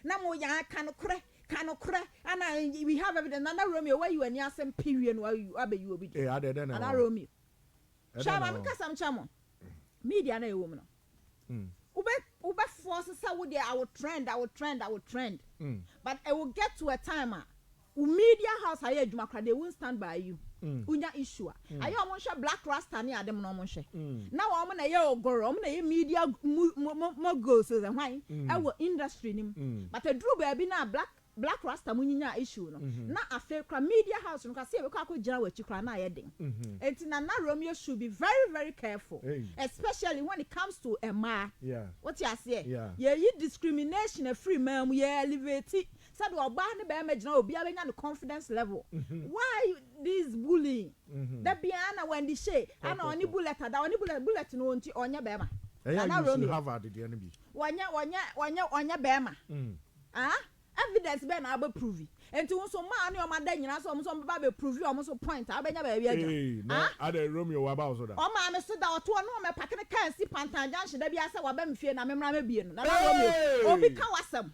Na mo ya ka nokorɛ ka nokorɛ ana we have evidence nana Romeo wayi wani asɛm pɛ wie no wabɛ yi obi deɛ nana Romeo hwɛ ma me kasa mkyɛ mo media na ɛwɔ mu no wobɛ wobɛ force sɛ wo deɛ I will trend I will trend I will trend but it will get to a time a Wo media house ayɛ adwuma koraa they won't stand by you wonya issue a ayɛ ɔmo nhwɛ black rasta ne ade mo na ɔmo nhwɛ na wɔn na ɛyɛ ogor ɔmo na ɛyɛ media moguls sɛ hwan ɛwɔ industry no mu but ɛduru baabi no a black black rasta mo nyinyaa issue no na afei koraa media house no koraa sɛ yɛbɛkɔ akɔ gyina wɔn akyi koraa na ayɛ den ɛnti Nana Romeo should be very very careful especially when it comes to mmaa wote aseɛ yɛyi discrimination afiri mmaa mu yɛ elevate Sɛdeɛ ɔbaa ne barima gyina hɔ obiara bɛnya ne confidence level why this bullying da biara na Wendy Shay ɛna ɔne bullet ada ɔne bullet bullet no ɔnti ɔnyɛ barima Ɛyɛ a use no Harvard deɛ no bi. Ɔnyɛ ɔnyɛ ɔnyɛ ɔnyɛ barima ah evidence bɛn na wobɛ prove nti wo nso mmaa ne wɔn ada nyinaa sɛ wɔn nso wɔbɛba abɛ prove wɔn nso point a wobɛnya baabi agyina Eii na ah adɛn Romeo waba wo so da? Ɔmaa me so da ɔto hɔ na ɔmɛ pake ne car nsi Pantan junction da biara sɛ waba me fie na me mmra mɛbie no Nana Romeo obi Eii. ka w'asɛm.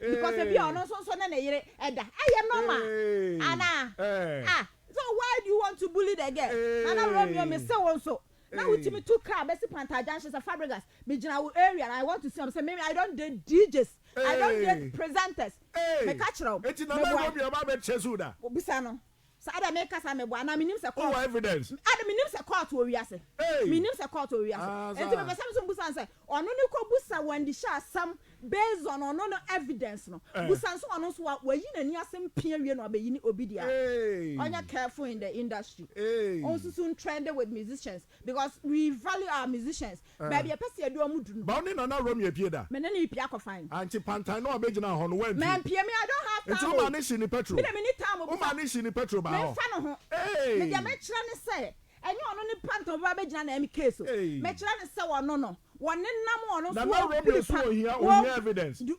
Because ebi a ɔno nso nso ne ne yere ɛda. Ɛyɛ normal anaa? Ah so why do you want to bully the girl? Nana Romeo me se wo nso na wo tumi tu car bɛsi Panther junction sɛ Fabregas me gyina wo area no I want to see wɔn sɛ me I don't date DJs I don't date presenters me ka kyerɛ wo me boa wo bisa no Saa deɛ me kasa me bo anaa me nim sɛ court. Wowɔ evidence. Ade me nim sɛ court wɔ wiase. Hey. Me nim sɛ court wɔ wiase. Ah, Enti me pɛ sɛ me nso busa no sɛ ɔno ne kɔ busa Wendy hyɛ asɛm based on ɔno no evidence no. Eh. Busa nso ɔno nso wa wayi n'ani ase mpee awie na wabeyi ne obi deɛ a. Hey. Ɔnyɛ careful in the industry. Hey. Ɔnsusu ntrɛnde with musicians because we value our musicians. Baabi ɛpɛ sɛ yɛde wɔn du no. Bawo ne Nana Rommy apue da? Me ne no repue akɔ fan. Ankye pantan no a ɔbɛgyinaa hɔ no, wampue. Mampue, me I don't have time o. Nti wo maa no hyee ne pɛtro? Me deɛ menni time o, bisa. Wo maa no hyee ne pɛtro baa hɔ? Memfa ne ho. Eeii. Me deɛ mɛkyerɛ no sɛ, ɛnyɛ ɔno ne pantan a ɔbɛba abɛgyina na ɛyɛ case o. Eeii. Mɛkyerɛ no sɛ ɔno no, wɔnenam ɔno nso, Nana Rommy nso ohia, ohia evidence. Du.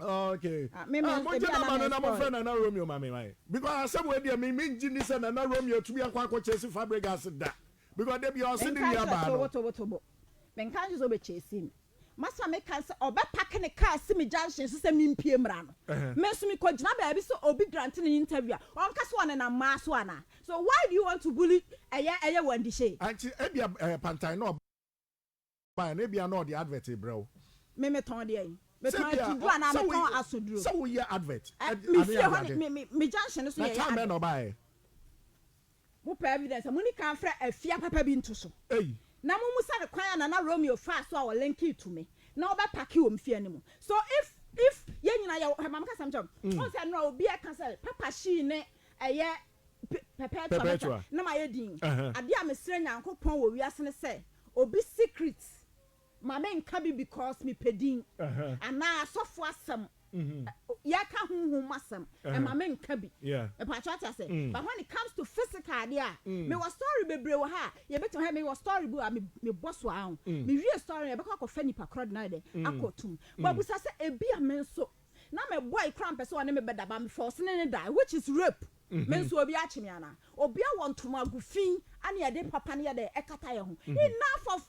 Oh, okay. Ah, me, me, ah, mo gyina ma no na mo fẹ́ Nana Romeo ma me ma ye. Because asem we deɛ me me ngyi ni sɛ Nana Romeo tumi akɔ akɔ chase Fabregas da. Because de bi ɔsi ni nua baa no. Tobo tobo tobo. Me nka nso obe chase me. Masa me ka sɛ ɔbɛ pack ne car si me junction so sɛ me mpie mra no. Me nso me kɔ gyina baabi sɛ obi grant ne interview a. Ɔnka sɛ ɔne na maa so ana. So why do you want to bully ɛyɛ ɛyɛ wandishe? Anti ebia eh, pantan no. bae no, ebia na ɔde advert rebrɛ wo. Me metɔn deɛn? Metɔn atuduro anaa metɔn asoduro? Sɛ woyɛ advert ade ade ade. Me fie hɔ me junction no so yɛyɛ advert. Na time bɛn na ɔbaeɛ? Mo pɛ evidence a, mo ni kan mfrɛ afia papa bi nto so. Ei. Na mo mmisa no kwan a Nana Romeo faa so a ɔ linki to me na ɔbɛ pake wɔ me fie anim. So if if yɛn nyinaa yɛ wɔ, hwɛ ma me ka asɛm nkyerɛ wo. Wohu sɛ nnora obi ɛka sɛ papa hyii ne ɛyɛ Perpetua bɛtwa na mayɛ din. Adeɛ a mesrɛ Nyankopɔn wɔ wiase ne sɛ obi secret ma me nka bi because me pɛ din anaa asɔfoɔ asɛm yɛka honhom mu asɛm ɛma me nka bi mepakyɛ wate asɛ but when it comes to physical adeɛ a me wɔ story bebree wɔ ha a yɛbɛtumi hɛ me wɔ story bi a me bɔ so a ho me wie story yɛbɛkɔ akɔ fɛ nipa korɔ de na yɛdɛ akɔ tum but busa sɛ ebi a me nso Na me boy koraa mpɛ sɛ ɔne me bɛda but me force ne no dae which is rape me nso obi akye me anaa? Obi awɔ ntoma agu fi ɛne yɛde papa no yɛ dɛn ɛkata yɛn ho enough of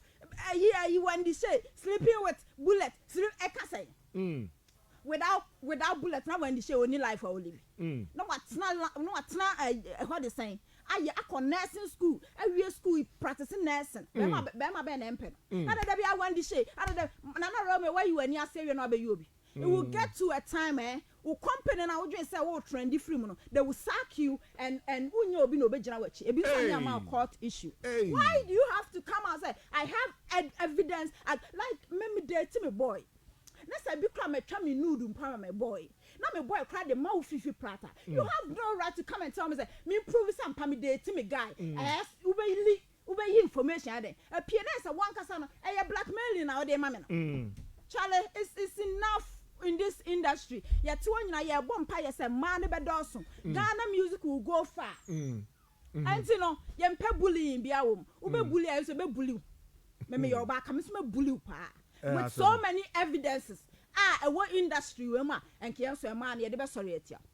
ɛyi ɛyi Wendy Shay sleeping with bullet sleep ɛka sɛn? Without without bullet na Wendy Shay ɔnni life a ɔlive na watena na watena ɛhɔ de sɛn ayɛ akɔ nursing school awie school practice nursing bɛɛma bɛɛma bɛn na ɛmpɛ no adada biara Wendy Shay adada Nana Romeo wayi w'ani ase awie na wabɛyɛ obi It will get to a time eh wo company no a wodwen sɛ wo trendi firi mu no they will sack you and and wo nyɛ obi na obe gyina w'akyi ebi nso ani ama wo court issue why do you have to come out sɛ I have ed evidence I like me me date me boy na sɛ ebi koraa ma twa me nude mpo ama me boy na me boy koraa de ma wo fifi prata you have no right to come and tell me sɛ me prove sɛ ampa me date me guy ɛɛ wo bɛ li Wobɛyi information ayɛ dɛn? Ɛpie na ayɛ sɛ wankasa no ɛyɛ blackmailing na wode ma me no. Charlie it's it's enough in this industry yɛte hɔ nyinaa yɛbɔ mpaeɛ sɛ mmaa no bɛdɔɔso Ghana music will go far ɛnti no yɛmpɛ bullying biara wɔ mu wobɛ bully a nso bɛ bully wo me meyɛ ɔbaa ka me nso mɛ bully wo paa with so many evidences a ɛwɔ industry wei mu a ɛnkeɛ nso mmaa no yɛde bɛsɔre atia wo.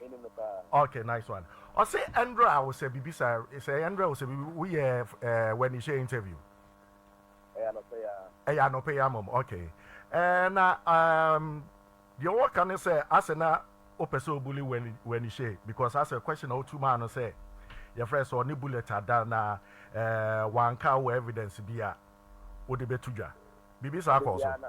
Menim no paa. Ok nice one ɔse ɛndrɛ a wosɛ bibi sa sɛ ɛndrɛ a wosɛ bibi woyɛ eh wanihyɛ interview. Ɛyɛ anɔpa yi ara. Ɛyɛ anɔpa yi ara mom ok eh na ehm deɛ wɔka ne sɛ asɛ na wopɛ sɛ obuli wani wanihyɛ because asɛ question a wotu maa no sɛ yɛfrɛ sɛ ɔne bullet ada na eh wanka wowɔ evidence bi a wode bɛto dwa bibi saa kɔɔ so. Dabi a na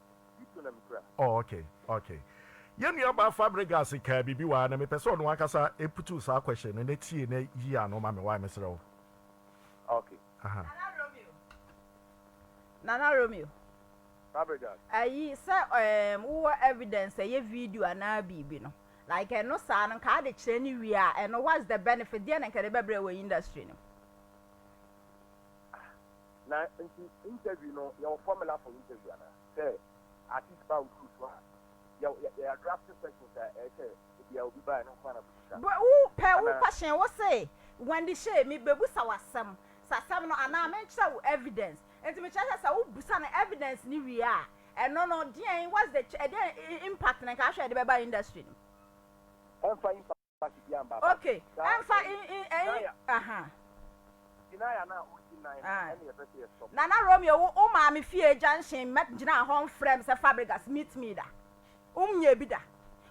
Oh ok ok. Yɛn nuabaa Fabregas kaa biribi wɔ ha na mepɛ sɛ ɔno ankasa putu saa question no na tie na yi ano ma me wae mesrɛ wo. Ok. Aha. Nana Romeo. Nana Romeo. Fabregas. Ayi sɛ ehm wowɔ evidence sɛ ɛyɛ video anaa biribi no like ɛno saa no nka ade kyerɛ no wie a ɛno what's the benefit deɛ na nka ɛde bɛbrɛ wɔ industry no mu. Na nti interview no yɛwɔ formula for interview anaa? Sɛ artist ba wo show so a yɛ yɛ yɛ draft questions a ɛyɛ sɛ ebia obi baeɛ no nko ara na bɛbisa no Bɛ wo pɛ wo anaa? question wo se Wendy Shay me bɛbusa wo asɛm sɛ asɛm no anaa me nkyerɛ wo evidence nti me kyerɛ sɛ sɛ wo busa no evidence no wie a ɛno no deɛn what's the ch ɛdeɛn impact na nka ahwɛ ɛde bɛba industry no mu? Ɛmfa impact. okay ɛnfa ɛyi aha. Binaya na odi nan ah. ɛna yɛpɛ sɛ yɛsɔ. Nana Romeo wo wo maame fie junction mɛ gyina hɔ nfrɛ m sɛ Fabregas meet me da wom nyɛ bi da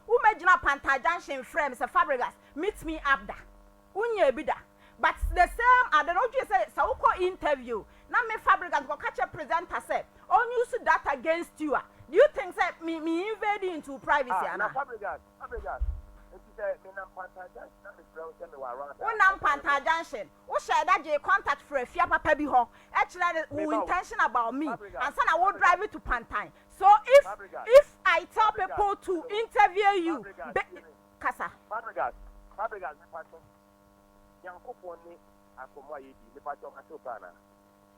womɛ gyina Panta junction frɛ m sɛ Fabregas meet me up da wonyɛ bi da but the same ade no wodwene sɛ sɛ wokɔ interview na me Fabregas kɔka kyɛ presenter sɛ ɔnuse that against you a do you think sɛ me me invade into privacy ah, ana? Na Fabregas Wonam Panther Junction, wo hyɛɛ da gyee contact frɛɛ fia papa bi hɔ kyerɛɛ no wo intention about me ansa na wo drive to Pantan so if if I tell people to interview you be kasa. Fabregas Fabregas mepatwɔ Nyankopɔn ne asɔmɔ a yɛdi mepatwɔ matew paa anaa?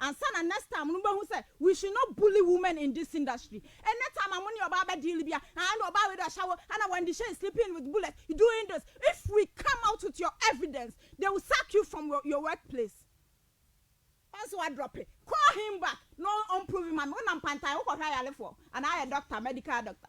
Ansa na next time no mo bɛhu sɛ we should not bully women in this industry any time a mo ne ɔbaa bɛ deal bia aah ɛna ɔbaa wei de ɔhyɛ wo ɛna Wendy Shay is sleeping with Bullet you doing this if we come out with your evidence they will sack you from your your work place. Once wa drop call him back na ɔn prove ma me wo nam pantan wo kɔ hwɛ ayalefoɔ anaa ayɛ doctor medical doctor.